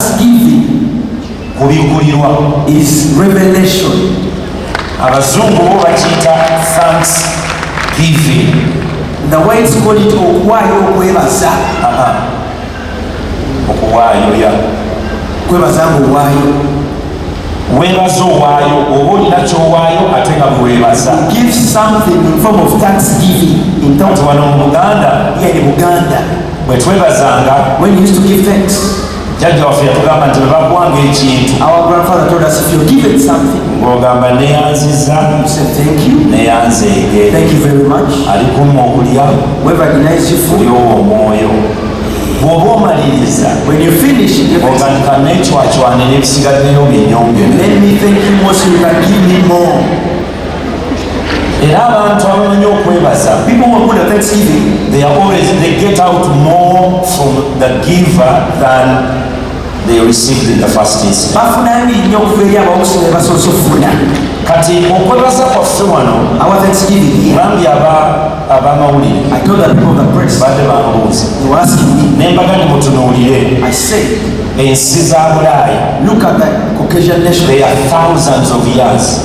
thanksgiving kubikurirwa is revelation abazungu bo bakiyita thanksgiving the whites call it okuwaayo okwebaza okuwaayo ya kwebaza nga owaayo webaza owaayo oba olina kyowaayo ate nga bwewebaza give something in form of thanksgiving in terms of buganda yeah, buganda bwe twebazanga when used to give thanks jajja waffe yatugamba nti bwebakuwanga ekintu our grandfather told us if you give it something ng'ogamba neyanziza neyanzeege alikumu okulya kulyowo omwoyo bwoba omaliriza otandika nekywakywane nebisigaddeyo binyonge era abantu abamanyi okwebaza people who good at thanksgiving they are always they get out more from the giver than they received in the first instance bafuna ebiri nnyo okuva eri abamusi ne basoose okufuna kati okwebaza kwaffe wano our thanksgiving bambi aba abamawulire i told the people of the press bade bambuuza you ask me nembaga ni mutunuulire i say ensi za bulaaya look at the caucasian nation they are thousands of years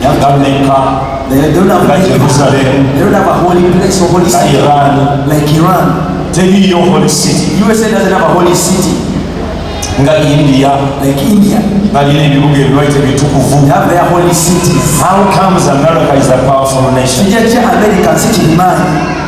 Yagameka nga Jerusalem nga Iran teriyo holy city nga India balina ebibuga ebibaite bitukuvu how comes America is a powerful nation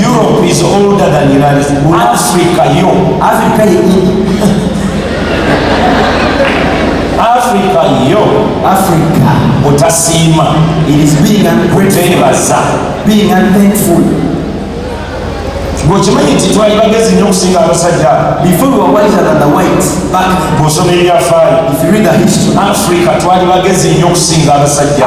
Europe is older than United States. Africa yo. Africa yo. Africa yo. Africa. Otasiima. It is being ungrateful. Being unthankful. bwekimanyi nti twali bagezi nnyo okusinga abasajja bwosoma ebyafaayo africa twali bagezi nnyo okusinga abasajja